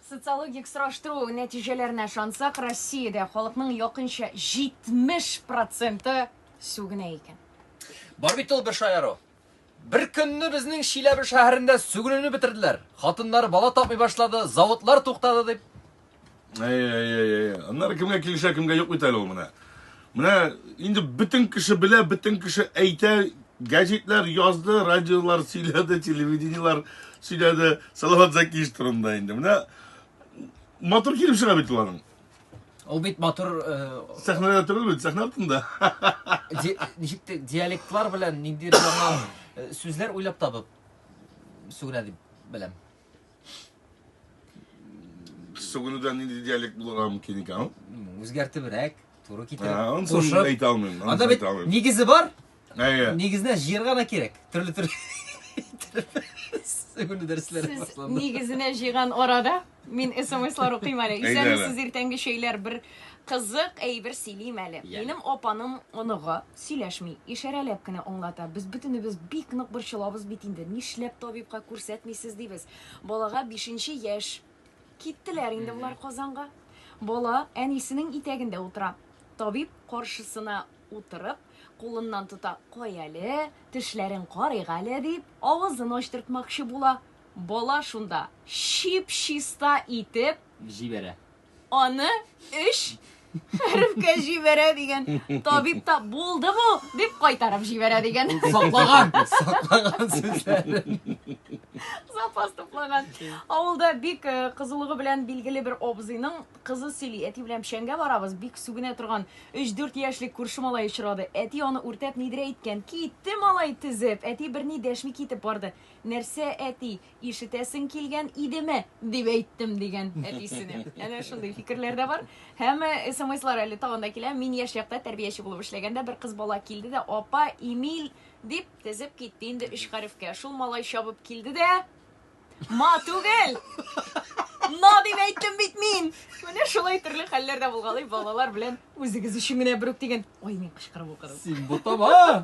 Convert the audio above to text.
Социологик сораштыру нәтиҗәләренә ышансак, Россиядә халыкның якынча 70 проценты сүгенә икән. Бар бит ул бер шаяру. Бер көнне безнең Чиләбе шәһәрендә сүгенүне бетерделәр. Хатыннар бала тапмый башлады, заводлар туктады дип. Әй, әй, әй, әй. Аннары кемгә килешә, кемгә юк бит әле ул менә. Менә инде бөтен кеше белә, бөтен кеше әйтә, гәҗитләр язды, радиолар сөйләде, телевидениелар сөйләде Салават Закиевич турында инде. Менә матур килеп чыга бит уларның. Ул бит матур э, Сәхнәдә түгел бит, сәхнә артында. ди- ничек те- диалектлар белән ниндидер яңа э, сүзләр уйлап табып сүгенә дип беләм. Сүгенүдән нинди диалект булырга мөмкин икән? Үзгәртебрәк, туры китереп. Аны соң әйтә алмыйм. Анда бит нигезе бар. Әйе. Нигезенә җыерга да кирәк. Төрле төрле. Сүгенү дәресләре башланды. Нигезенә җыйган арада мин смслар укыйм әле. Исәнмесез иртәнге чәйләр бер Кызык әйбер сөйлим әле. Янә. Минем апаның оныгы сөйләшми, ишарәләп кенә аңлата. Без бөтенебез бик нык борчылабыз бит инде, нишләп табибка күрсәтмисез дибез. Балага бишенче яшь. Киттеләр инде болар Казанга. Бала әнисенең итәгендә утыра. Табиб каршысына утырып, кулыннан тота. Кай әле, тешләрен карыйк әле, дип, авызын ачтыртмакчы була. Бала шунда чип-чиста итеп. Җибәрә. аны өч хәрефкә җибәрә дигән. Табиб та булды бу дип кайтарып җибәрә дигән. Саклаган, саклаган сүзләрен. Запас туплаган. Авылда бик э, кызулыгы белән билгеле бер абзыйның кызы сөйли. Әти белән печәнгә барабыз, бик сүгенә торган 3-4 яшьлек күрше малай очрады. Әти аны үртәп нидер әйткән. Китте малай тезеп. Әти берни дәшми китеп барды. Нәрсә әти? Ишетәсең килгән идеме? дип әйттем, дигән әтисенә. Әнә шундый фикерләр дә бар. Һәм э, смслар әле тагын да килә. Мин яшь чакта тәрбияче булып эшләгәндә бер кыз бала килде дә, апа, Эмиль дип тезеп китте инде өч хәрефкә. Шул малай чабып килде дә, ма түгел, на дип әйттем бит мин. Менә шулай төрле хәлләр дә булгалый балалар белән үзегез өчен генә берүк дигән. Ой, мин кычкырып укыдым. Син бутама!